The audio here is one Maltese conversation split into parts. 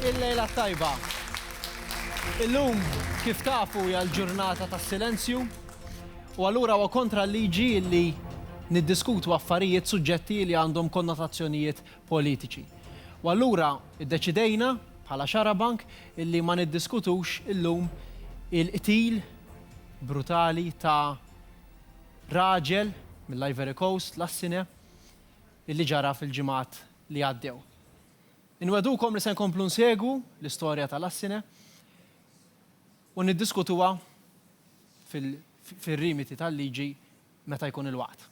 Il-lejla t-tajba. Illum, kif tafu, hija l-ġurnata tas-silenzju, u allura huwa kontra l-liġi li niddiskutu affarijiet suġġetti li għandhom konnotazzjonijiet politiċi. U allura iddeċidejna bħala xarabank illi ma niddiskutux illum il-qtil brutali ta' raġel mill-Ivory Coast, Lassine, illi ġara fil-ġimgħat li għaddew. Inwegħdukom li se nkomplu nsegwu l-istorja ta' Lassine u niddiskutuha fir-rimiti tal-liġi meta jkun il-waqt.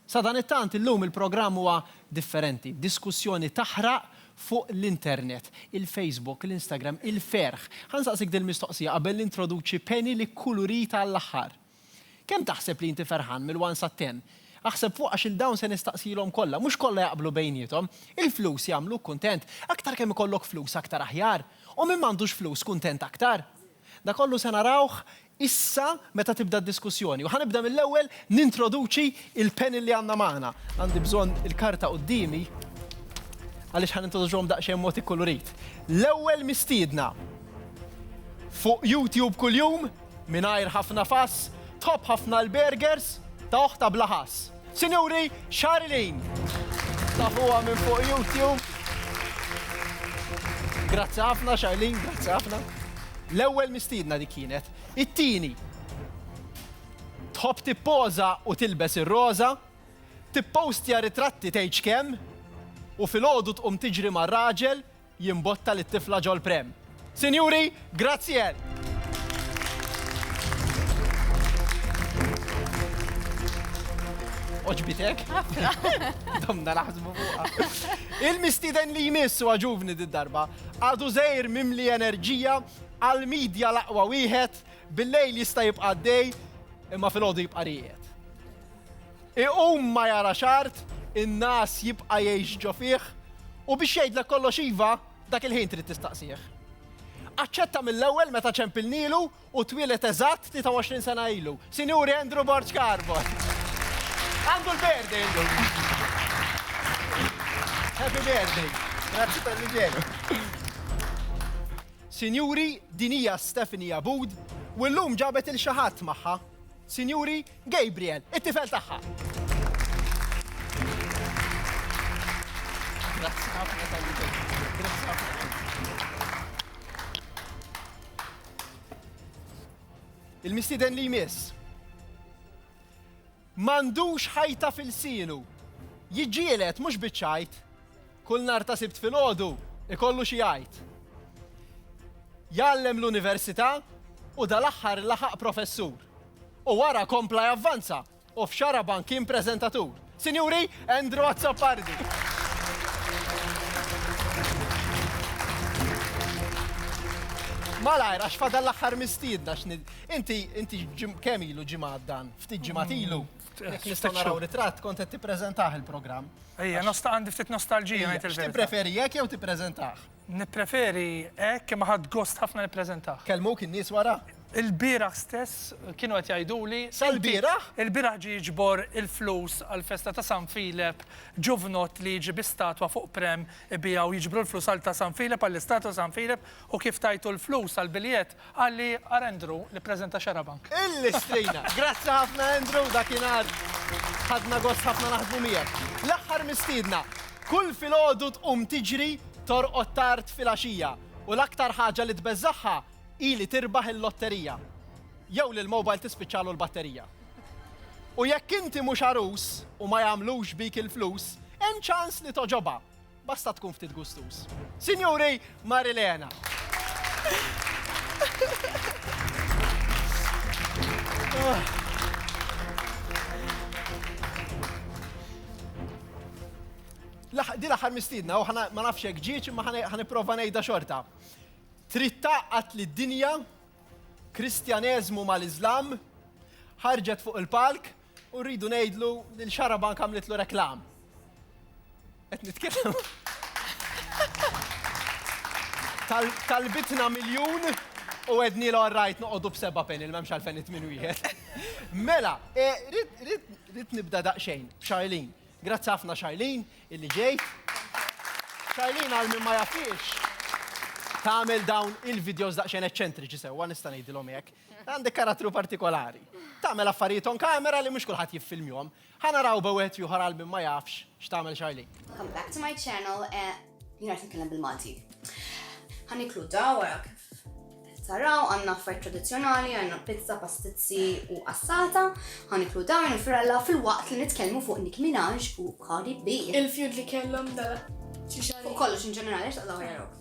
Sadanittant illum il-programm huwa differenti, diskussjoni taħraq fuq l-internet, il-Facebook, l-Instagram, il-ferħ. Ħa nsaqsik dil-mistoqsija qabel nintroduċi Penny li kkulurita għall-aħħar. Kemm taħseb li inti ferħan mill-one sa ten? Aħseb fuq għax il-dawn se nistaqsilhom kollha, mhux kollha jaqblu bejniethom. Il-flus jagħmluk kuntent? Aktar kemm ikollok flus aktar aħjar. U min m'għandux flus kuntent aktar? Da kollu se narawh issa meta tibda d-diskussjoni u ħa nibda mill-ewwel nintroduċi il-panel li għandna magħna. Għandi bżonn il-karta quddiemi għaliex ħa nintroduċuhom daqsxejn mod ikkulurit. L-ewwel mistiedna fuq YouTube kuljum Mingħajr ħafna fass, tħobb ħafna l-burgers ta' oħta bla ħass. Sinjuri, Charlene! Tafuha minn fuq YouTube. Grazzi ħafna, Charlene, grazzi ħafna. L-ewwel mistiedna dik kienet. It-tieni, tħobb tippoża u tilbes ir-roża, tippostja ritratti tgħidx kemm, u filgħodu tqum tiġri mar-raġel jimbotta lit-tifla ġol pram. Sinjuri, grazzi għal. Oġbitek? Domna naħsbu fuqa. Il-mistiden li jmiss u għaġuvni d-darba, għadu zejr mimli enerġija għal-medja laqwa wieħed, bil-lejl jista' jibqa' dej, imma fil-ħodu jibqa' rijet. Iqum ma jarax art, in-ngħas jibqa' jgħix ġo fih, u biex jgħidlek kollox iva, dak il-ħin trid tistaqsih. Aċċetta mill-ewwel meta ċempilnielu u twieled eżatt 23 sena ilu, Sinjuri Andrew Borg Carbon. Għandu l-birthday illum. Happy birthday. Grazzi tal-li ġejlu. Sinjuri, din hija Stephanie Abud u llum ġabet 'il xi ħadd magħha. Sinjuri, Gabriel, it-tifel tagħha. Grazzi ħafna Grazzi ħafna. il-mistiden li jmiss. Mandux ħajta fil-sinu, jġielet mux bieċajt, kull nar ta' sibt fil-ħodu, ikollu xi jgħid. Jallem l-università u dal-aħħar laħaq professur. U wara kompla javvanza u f'Xaraban kien preżentatur. Sinjuri, Andrew Azzopardi. Malajr, għax fadal l-axħar mistiedna xnid. Inti, inti kemm ilu ġimgħat dan, ftit ġimgħat mm, ilu. Nistgħu naraw ritratt kont qed tippreżentah il-programm. Ejja, għandi ftit nostalġija ngħid il-verità. Tippreferi jekk jew tippreżentah? Nippreferi hekk imma ħadt gost ħafna nippreżentah. Kellmuk in-nies wara? Il-bieraħ stess kienu qed jgħiduli. Sal-bieraħ? Il-bieraħ ġie jiġbor il-flus għall-festa ta' San Filep, ġuvnott li jiġi bi statwa fuq pram, ibiegħu, jiġbru l-flus għal ta' San Filep, għall-istatwa ta' San Filep u kif tajtu l-flus għall-biljett, Qal li ara Andrew li ppreżenta Xarabank. Il-Listrina. Grazzi ħafna Andrew, dakinhar ħadna gost ħafna naħdmu miegħek. L-aħħar mistiedna, kull filgħodu tqum tiġri, torqod tard filgħaxija u l-aktar ħaġa li tbeżżagħha hi li tirbaħ il-lotterija. Jew li l-mobile tispiċċalu l-batterija. U jekk inti mhux għarus u ma jagħmlux bik il-flus, hemm ċans li togħġobha. Basta tkun ftit gustuż. Sinjuri, Marilena. Di l-aħħar mistidna, u ma nafx hekk ġieċ imma ħaniprofa ngħidha xorta. Trid taqqat li d-dinja, Kristjaneżmu mal-Iżlam, ħarġet fuq il-palk U rridu ngħidlu li l-Xarabank għamlitlu reklam. Qed nitkellem. Talbitna miljun u għedni l-orrajt noqogħdu b'seba' pen il-memx għalfen it-tmin wieħed. Mela, e, rrit nibda daqsxejn b'Xarlin. Grazzi ħafna Xarlin illi ġejt. Xarlin għal minn ma jafiex tagħmel dawn il-videos daqsxejn eċċentriċi sewwa nista' ngħidilhom hekk. Għandek karattru partikolari. Tagħmel affarijiet on kamera li mhux kulħadd jiffilmjhom. Ħa naraw b'ewwet ieħor għal min ma jafx x'tagħmel Charlene. Come back to my channel and jien qed nitkellem bil-Malti. Ħa niklu da wara kif taraw għandna affarijiet tradizzjonali, għandna pizza, pastizzi u qassata, ħa niklu da minn firella fil-waqt li nitkellmu fuq Nick Minaj u Cardi B. Il-feud li kellhom dal xi xahar. Fuq kollox in ġenerali x'taqlaw jarok.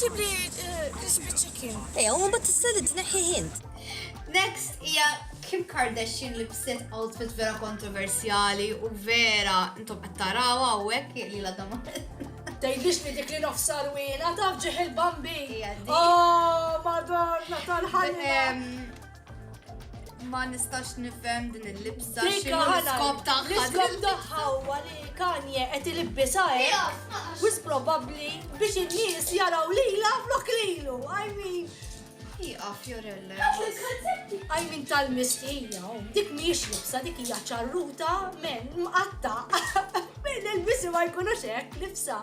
Ġib li crispy chicken. Ejja, u mbagħad tista' li tneħħih int. Next hija Kim Kardashian li bset outfit vera kontroversjali u vera intom qed tarawha hawnhekk li la dama. Tgħidlix li dik li nofsa rwila taf ġieħ il-bambi. Oh, madonna tal-ħajja. Ma nistax nifhem din il-libsa x'inhu l-iskop tagħha. L-iskop tagħha huwa li Kanye qed ilibbisha hekk wis probabbli biex in-nies jaraw lilha flok lilu. I mean, Iqa Fiorelle. I mean tal-mistija, oh, dik mhijiex libsa, dik hija ċarruta men mqatta. Men il-bisi ma jkunux hekk libsa.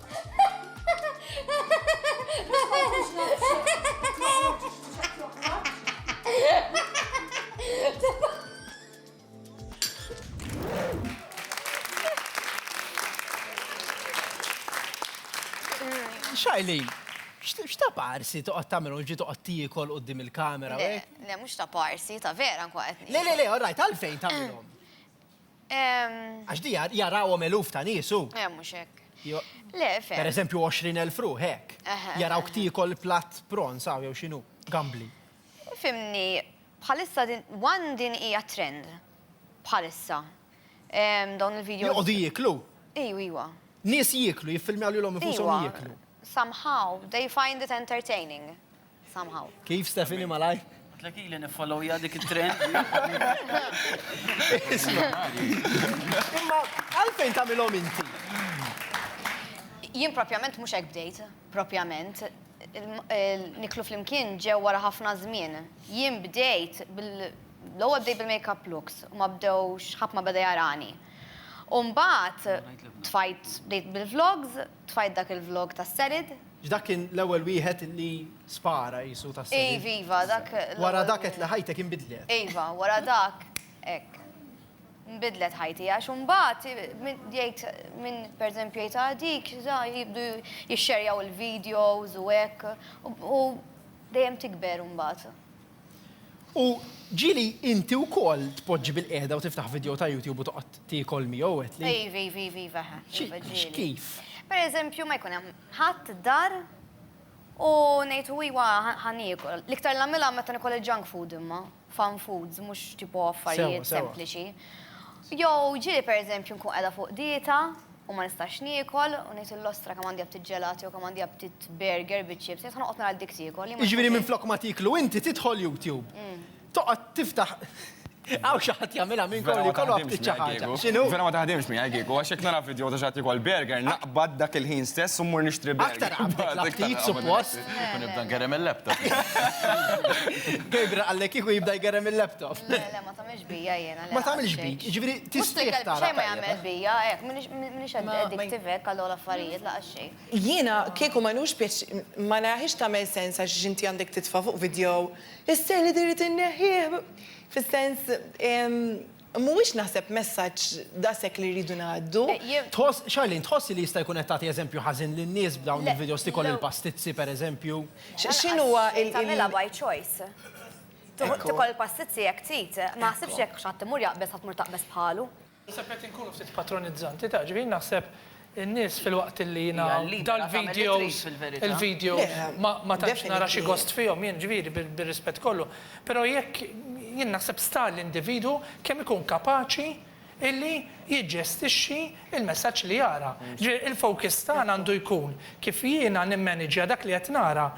Xajlin, x'ta' parsi toqgħod tagħmel ġi toqgħod tiekol qudiem il-kamera? Le, le mhux ta' parsi, ta' vera nkun qed. Le, le, le, all right, għalfejn tagħmilhom? Għax di jarawhom eluf ta' nies hu. Eh, mhux hekk. Le, fe. Per eżempju 20,000 ruħ hekk. Jaraw ktiekol platt pron saw jew x'inhu, gambli. Fimni, bħalissa din one din hija trend. Bħalissa. Dawn il-video. Joqogħdu jieklu? Ejwa, ejwa. Nies jieklu, jiffilmjaw lilhom infushom jieklu. Somehow they find it entertaining. somehow. Kif Stephanie malajr? Għatlek ili nifollowja dik il-trend. Imma għalfejn tamilom inti? Jien propjament mux ek bdejt, propjament. Niklu fl-imkien ġew wara ħafna żmien. Jien bdejt l-ewwel bdejt bil-makeup looks u ma bdewx ħadd ma beda jarani. Umbat tfajt bdejt bil-vlogs, Tfajt dak il vlog tas serid. X'dak kien l-ewwel wieħed li spara qisu tas serid? Iv iva dak l-ewwel wieħed. Wara dak għedt li ħajtek inbidlet. Iva wara dak hekk. Nbidlet ħajti għax imbagħad jgħid min pereżempju jgħid ah dik da jibdu jixxerjaw il videos u hekk u dejjem tikber imbagħad. U ġieli inti wkoll tpoġġi bil-qiegħda u tiftaħ vidjow ta' YouTube u toqgħod tiekol miegħu qed li. Iva, iva, iva, iva, eħe. Iva ġieli. Kif? Per eżempju, ma jkun hemm ħadd id-dar u ngħid u iva ħa niekol. L-iktar nagħmilha meta nikol il-junk food imma, fun foods, mhux tipo affarijiet sempliċi. Sewa, sewa. Jew ġieli per eżempju nkun qiegħda fuq dieta, u ma nistax niekol u ngħid lill-ostra kemm għandi aptit ġelati jew kemm għandi aptit burger biċ-chips, jekk se noqgħod nara dik tiekol. Jiġifieri minflok ma tieklu inti tidħol YouTube. Toqgħod tiftaħ Hawn xi ħadd jagħmilha minnkom li jkollu aptit xi ħaġa. X'inhu? Vera ma taħdimx miegħi kieku għax jekk nara vidjow ta' xi ħadd jiekol burger naqbad dak il-ħin stess u mmur nixtri burger. Aktar qabdek l-aptit suppost. U nibda ngerrem il-laptop. Gabriel qallek kieku jibda jgerrem il-laptop. Mhix bija jiena. Ma tagħmilx bi, jiġifieri tistieq tara. Xejn ma jagħmel bija, hekk, m'iniex addictive hekk għal dawn l-affarijiet laqas xejn. Jiena kieku ma nħux pjaċir, ma naraħiex tagħmel sens għax inti għandek titfa' fuq vidjo is-seħħ li trid inneħħih. Fis-sens, mhuwiex naħseb messaġġ daqshekk li rridu ngħaddu. Tħoss, Charlene, tħossi li jista' jkun qed tagħti eżempju ħażin lin-nies b'dawn il-vidjos tikol il-pastizzi, pereżempju? X'inhuwa il-. Tagħmilha by choice. Tikol passizzi jekk trid, ma naħsibx jekk x'ħadd imur jaqbeż ħadd tmur taqbeż bħalu. Naħseb qed inkunu ftit patronizzanti taf, ġifieri naħseb in-nies filwaqt illi jiena dal-videos il-video ma tantx nara xi gost fihom jien ġifieri bir-rispett kollu, però jekk jien naħseb sta l-individwu kemm ikun kapaċi illi jiġġestixxi l-messaġġ li jara. Ġifieri il-focus tagħna għandu jkun kif jiena nimmaniġġja dak li qed nara.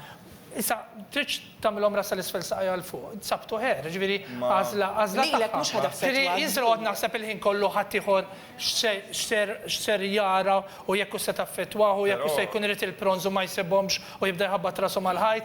Issa, tridx tagħmilhom ras sal-isfel saqajha 'l fuq, it's up to her, ġifieri għażla tagħha. Lilek mhux ħa taffettwa. Ġifieri jien se noqgħod naħseb il-ħin kollu ħaddieħor x'ser jara u jekk hux se taffettwah u jekk hux se jkun irid il-prawns u ma jsibhomx u jibda jħabbat rasu mal-ħajt.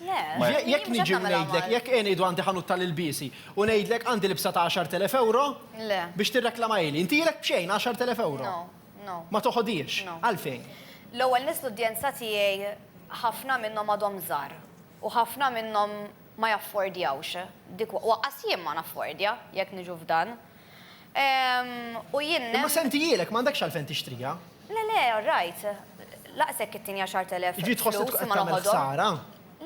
Jekk niġi u ngħidlek, jekk jien ngħidu għandi ħanut tal-ilbiesi u ngħidlek għandi libsa ta' 10,000 ewro biex tirreklamahili, intilek b'xejn 10,000 ewro? Ma toħodhiex? Għalfejn? L-ewwel nies l-udjenza tiegħi ħafna minnhom għadhom żgħar u ħafna minnhom ma jaffordjawx dik u aqqas jien ma naffordja jekk niġu f'dan. U jien nemmen. Imma sentijielek, m'għandekx għalfejn tixtriha. Le, le, all right. Lanqas hekk it-tieni għaxart elef flus huma l-oħodhom. Jiġifieri tħoss li tkun qed tagħmel ħsara?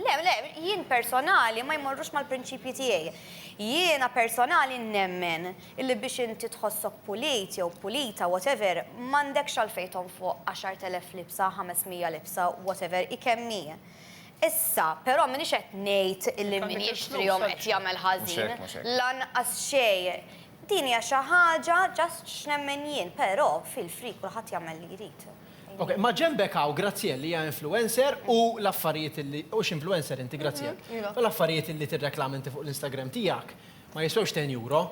Le, le, jien personali ma jmorrux mal-prinċipji tiegħi. Jiena personali nemmen illi biex inti tħossok pulit jew pulita, whatever, m'għandekx għalfejn tonfoq għaxart elef libsa, ħames mija libsa, whatever hi kemm hi. Issa, però m'iniex qed ngħid li min jixtrihom qed jagħmel ħażin, lanqas xejn. Din hija xi ħaġa just x'nemmen jien, però feel free kulħadd jagħmel li jrid. Ok, ma' ġenbek hawn Graziel li hija influencer u l-affarijiet li, hux influencer inti Graziel? Iva. U l-affarijiet li tirreklama inti fuq l-Instagram tiegħek, Ma jiswewx 10 euro.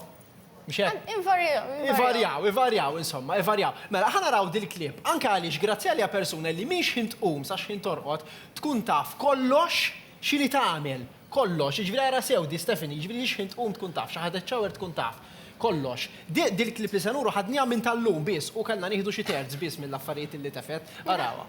Mhux hekk? Invarjaw. Ivarjaw, ivarjaw, insomma, ivarjaw. Mela, ħa naraw dil-klieb. Anke għaliex Grazzjali hija persuna li mhix ħin tqum sa x'ħin torqod, tkun taf kollox x'inhi tagħmel. Kollox. Jiġifieri ara sew di Stephanie, jiġifieri li x'ħin tqum tkun taf, xi ħadet shower tkun taf. Kollox. Dil-klieb li se nuru ħadniha minn tal-lum biss u kellna nieħdu xi terz biss mill-affarijiet li tefgħet. Arawha.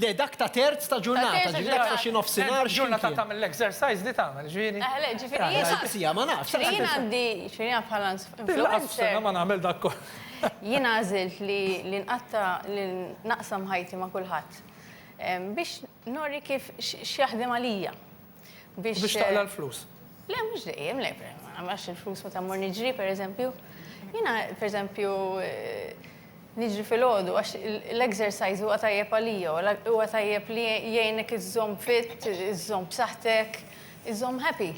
Le dak ta' terz ta' ġurnata, ġifieri dak ta' xi nofsinhar x'imkien. Ġurnata tagħmel l-exercise li tagħmel, ġifieri. Eħe le, ġifieri jiena. Saqsiha, ma nafx. Ġifieri jiena għandi, ġifieri jiena bħala influencer. Din lanqas f'sena ma nagħmel dak kollu. Jiena għażilt li nqatta' li naqsam ħajti ma' kulħadd. Biex nori kif x'jaħdem għalija. biex. Biex taqla' l-flus. Le, mhux dejjem, le, għax il-flus meta mmur niġri, per eżempju. Jiena, per eżempju, niġri fil-ħodu, għax l-exercise huwa tajjeb għalija, huwa tajjeb li jgħinek iżżomm fit, iżżomm b'saħħtek, iżżomm happy.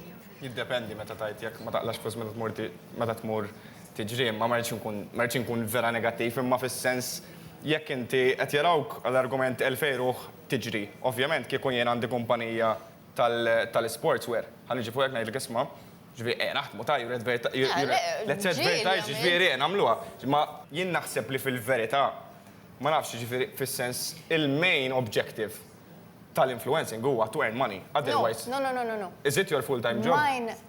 Jiddependi meta tgħid jekk ma taqlax flus meta tmur meta tmur tiġri, imma ma rridx inkun vera negattiv, imma fis-sens jekk inti qed jarawk għal argument elfejn ruħ tiġri. Ovvjament kieku jien għandi kumpanija tal-sportswear, ħa niġi fuqek ngħidlek isma', ġifieri ejja naħdmu ta' you're advertising, let's advertise ġifieri ejja nagħmluha. Imma jien naħseb li fil-verità, ma nafx, ġifieri fis-sens il-main objective tal-influencing huwa to earn money, otherwise, is it your full-time job?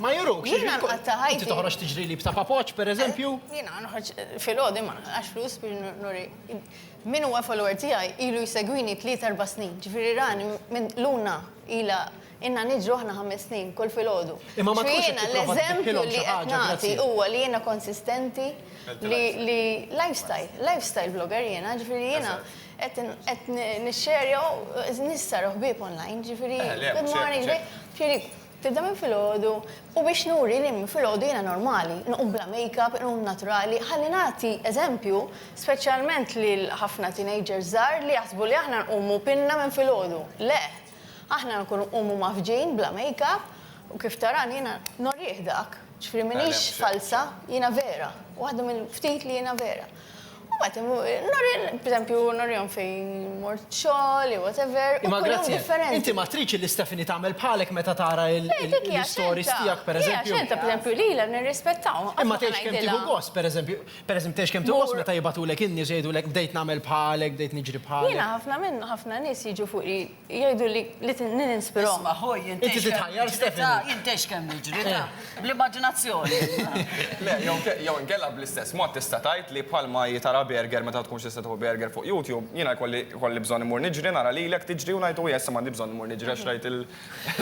Ma jurux. Jiena nqatta ħajti. Inti toħroġ tiġri li b'ta' papoċ, per eżempju? Eh, jiena nħroġ fil-ħodim għax flus bil nuri. Min huwa follower tiegħi ilu jsegwini tliet erba' snin. Ġifieri rani minn luna ila inna niġru aħna ħames snin kull fil-ħodu. Imma ma jiena l-eżempju li qed nagħti huwa li jiena konsistenti li lifestyle, lifestyle blogger jiena, ġifieri jiena qed nixxerja nissar ħbieb online, ġifieri eh, good morning, ġifieri Tibda minn filgħodu u biex nuri li minn filgħodu jiena normali, inqum bla makeup, inqum naturali, ħalli nagħti eżempju speċjalment lil ħafna teenagers żgħar li jaħsbu li aħna nqumu pinna minn filgħodu. Le! Aħna nkunu nqumu mgħaffġin, bla makeup, u kif tarani jiena norih dak, ġifieri m'iniex falza, jiena vera, waħda mill-ftit li jiena vera. U bat, b'eżempju, norjon fejn mort xogħol, jew whatever, u kull jum differenti. Inti ma tridx li Stephanie tagħmel bħalek meta tara l-istories tiegħek, pereżempju. Hija x'entha, pereżempju, lilha nirrispettahom. Imma tgħidx kemm tieħu gost, pereżempju, pereżempju tgħidx kemm tieħu gost meta jibgħatulek in-nies u jgħidulek bdejt nagħmel bħalek, bdejt niġri bħalek. Jiena ħafna minn ħafna nies jiġu fuqi. Jgħidu li ninspirhom. Isma' ħuj, jien Inti titħajjar Stephanie. Jien tgħix kemm niġri, ta' bl-immaġinazzjoni. Le, jew inkella bl-istess mod tista' tgħid li bħalma hi tara burger meta tkunx tista' tieħu burger fuq YouTube, jiena jkolli bżonn immur niġri nara lilek tiġri u ngħid hu jessu m'għandi bżonn immur niġri għax rajt il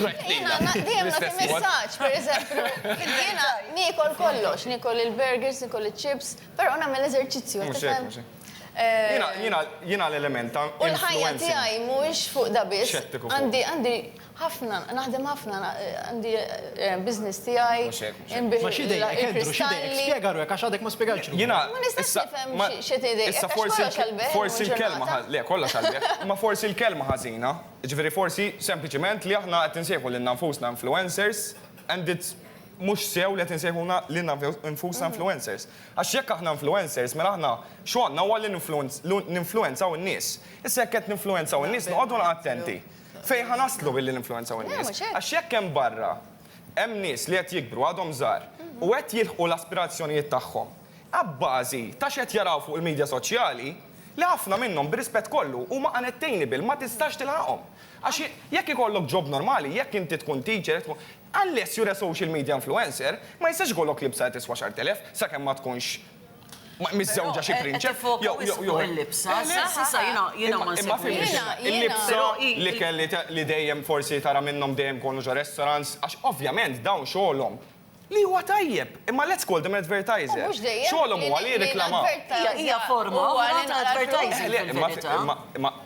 rajt lilha. Jiena dejjem nagħti messaġġ, pereżempju, jiena niekol kollox, niekol il-burgers, niekol iċ-chips, però nagħmel eżerċizzju. Mhux hekk, mhux hekk. Jiena, jiena l-element ta' influenza. U l-ħajja tiegħi mhuwiex fuq da biss. Xettiku fuq. Għandi, għandi ħafna, naħdem ħafna, għandi business tiegħi, inbigħ il-kristalli. Spjega ruħek għax għadek ma spjegajtx ruħek. Jiena. Ma nistax nifhem x'qed tgħid. Issa forsi, forsi l-kelma, le kollha x'għalbejh, imma forsi l-kelma ħażina, jiġifieri forsi sempliċiment li aħna qed insejħu lilna nfusna influencers and it's mhux sew li qed insejħulna lilna nfusna influencers. Għax jekk aħna influencers, mela aħna xogħolna huwa li ninfluwenzaw in-nies. Issa jekk qed ninfluwenzaw in-nies noqogħdu attenti fejn ħa naslu billi ninfluwenzaw in-nies. Għax jekk hemm barra hemm nies li qed jikbru għadhom żgħar u qed jilħqu l-aspirazzjonijiet tagħhom abbażi ta' x'qed jaraw fuq il-midja soċjali, li ħafna minnhom, b'rispett kollu, huma unattainable, ma tistax tilħaqhom. Għax jekk ikollok job normali, jekk inti tkun teacher, Unless you're a social media influencer, ma jistax ikollok libsa li tiswa xarbt elef, sakemm ma tkunx miżżewġa xi prinċep, jew, jew, jew. Qed tiffoka wis fuq il-libsa, s'issa jiena, jiena ma nsibx. Imma fimni x'inha, il-libsa, l-ikel li, li dejjem forsi tara minnhom dejjem kollox ġo restaurants, għax ovvjament dawn xogħolhom, li huwa tajjeb, imma let's call them advertiser. U mhux dejjem. Xogħolhom huwa li jirriklamaw. Hija, hija forma oħra ta' advertising fil-verità. Le, le, imma, imma, imma,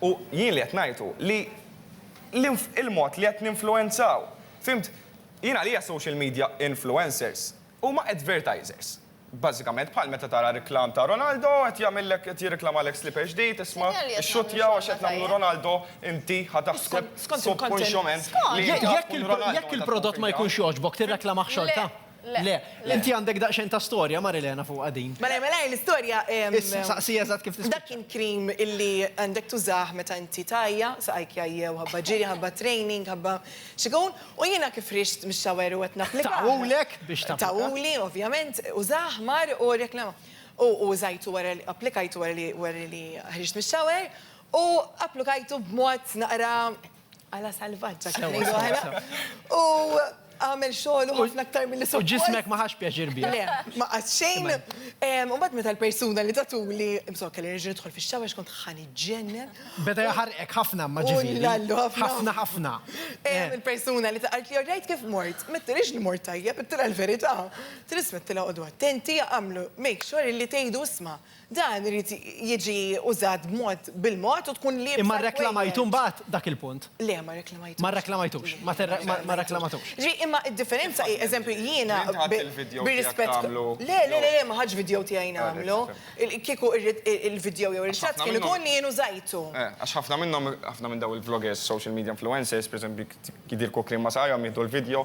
U jien li qed ngħid hu li l-mod li qed ninfluwenzaw. Fhimt? Jien għalija social media influencers huma advertisers. Bażikament bħal meta tara reklam ta' Ronaldo qed jagħmillek qed jirreklamalek slipper ġdid, isma' ixxuttja għax qed nagħmlu Ronaldo, inti ħa taħseb subkonxjament li inti ħa tkun Ronaldo meta tkun tridha. Jekk il-prodott ma jkunx jogħġbok tirreklamah xorta? Le. Inti għandek daqsxejn ta' storja, Marilena, fuqha din. Malajr malajr l-istorja. Issa, saqsi eżatt kif tispiċċa. Dak kien cream illi għandek tużah meta inti tgħajja, saqajk jgħajjew ħabba ġiri, ħabba training, ħabba x'ikun, u jiena kif ħriġt mix-shower u qed napplika. Tawulek biex tapplika. Tawuli, ovvjament, użah, mar u rreklama. U użajtu wara li, applikajtu wara li ħriġt mix-shower u applikajtu b'mod naqra. Għala salvaġġa kif ngħidu aħna. U għamel xogħol u ħafna aktar milli suppost. U ġismek ma ħax pjaċir bih. Le, ma qatt xejn. U mbagħad meta l-persuna li tatuli, imsok kelli nerġa' nidħol fix-xawa x'kont ħani ġennen. Beda jaħarqek ħafna ma ġifieri. Ullallu ħafna. Ħafna ħafna. Il-persuna li taqalt li orrejt kif mort, mettilix li mort tajjeb, ittilha l-verità. Trismettilha qogħdu attenti, għamlu make sure li tgħidu isma'. Dan irid jiġi użat b'mod bil-mod u tkun liebsa. Imma rreklamajtu mbagħad dak il-punt? Le, ma rreklamajtux. Ma rreklamajtux. Ma rreklamatux. Ġifieri, imma d-differenza hi, eżempju, jiena bir-rispett. Le, le, le, ma ħadtx vidjow tiegħi nagħmlu. Kieku l-vidjow jew ir-ritratt kien ikun li jien użajtu. Għax ħafna minnhom, ħafna minn dawn il-vloggers, social media influencers, pereżempju, jidhirku kliem ma' saħajhom, jieħdu l-vidjow,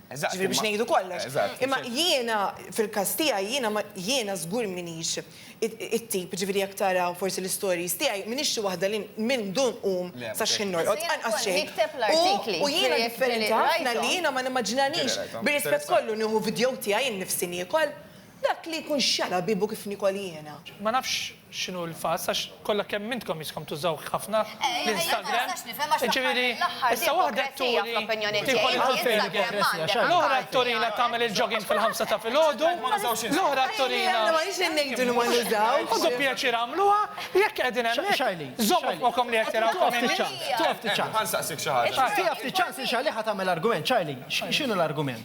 Eżatt. Ġifieri biex ngħidu kollox. Eżatt. Imma jiena, fil-każ tiegħi, jiena ma, jiena żgur m'iniex it-tip, ġifieri jekk tara forsi l-istories tiegħi, m'iniex xi waħda li minn dun nqum sa x'ħin norqod, anqas xejn. Nikteb l-artikli. U jiena differenti ħafna li jiena ma nimmaġinanix, bir-rispett kollu, nieħu vidjow tiegħi nnifsi niekol. Dak li jkun xala biebu kif nikol jiena. Ma nafx x'inhu l-fass għax kollha kemm intkom jiskom tużawh ħafna l-Instagram, jiġifieri issa waħda turi tidħol il-Instagram, l-oħra turina tagħmel il-jogging fil-ħamsa ta' filgħodu, l-oħra turina. Ħudu pjaċir agħmluha, jekk qegħdin hemmhekk, żommu f'moħħkom li qed taraw ta' min hi. Ħa nsaqsik xi ħaġa. Tieha ftit ċans li Charlie ħa tagħmel argument. Charlie, x'inhu l-argument?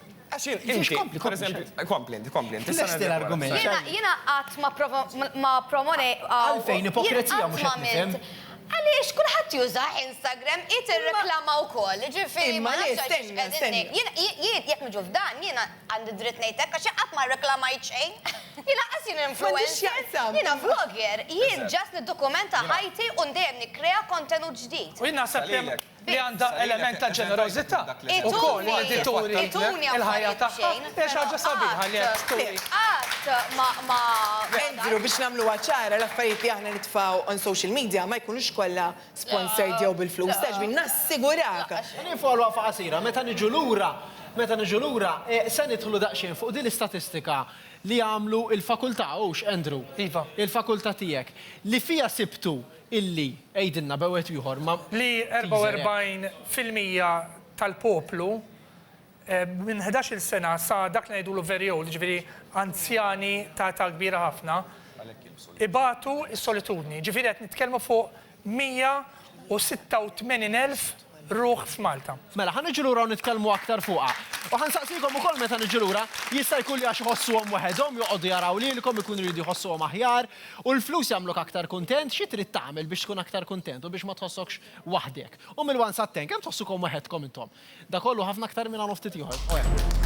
Għax inti, per eżempju, kompli inti, kompli inti. Lesti l-argument. Jena għat ma promone. Għalfejn ipokrezija mux għamil. Għalix, kullħat juża Instagram, it reklama u koll, ġifiri. Imma li, stenna, stenna. Jiet, jek nġu f'dan, jena għandi dritt nejtek, għax għat ma reklamajt xejn. Jena għasin influencer. Jena vlogger, jien ġas nid-dokumenta ħajti un dejjem nikrea kontenut ġdijt. U jena għasab li għandha element ta' ġenerożità wkoll li qed turi l-ħajja tagħha hija xi ħaġa sabiħa li qed turi. Andrew, biex nagħmluha ċara, l-affarijiet li aħna nitfgħu on social media ma jkunux kollha sponsored jew bil-flus, taf x'bin, nassigurak. Ħalli follow-up qasira, meta niġu lura, meta niġu lura, se nidħlu daqsxejn fuq din l-istatistika li għamlu l-fakultà, hux, Andrew? Iva. Il-fakultà tiegħek, li fiha sibtu Illi, għidilna b' wieħed ieħor, ma. Li 44 fil-mija tal-poplu minn ħdax-il sena sa dak li ngħidulu very old, jiġifieri anzjani ta' età kbira ħafna, ibatu s-solitudni. Jiġifieri qed nitkellmu fuq 186,000. ruħ f'Malta. Mela, ħa niġu lura u nitkellmu aktar fuqha. U ħa nsaqsikom ukoll meta niġu lura, jista' jkun li għax iħossuhom waħedhom joqogħdu jaraw lilkom ikunu jridu jħossuhom aħjar, u l-flus jagħmluk aktar kuntent, xi trid tagħmel biex tkun aktar kuntent u biex ma tħossokx waħdek? U mill-one sat ten, kemm tħossukom waħedkom intom? Da kollu ħafna aktar minn hawn u ftit ieħor. O hekk.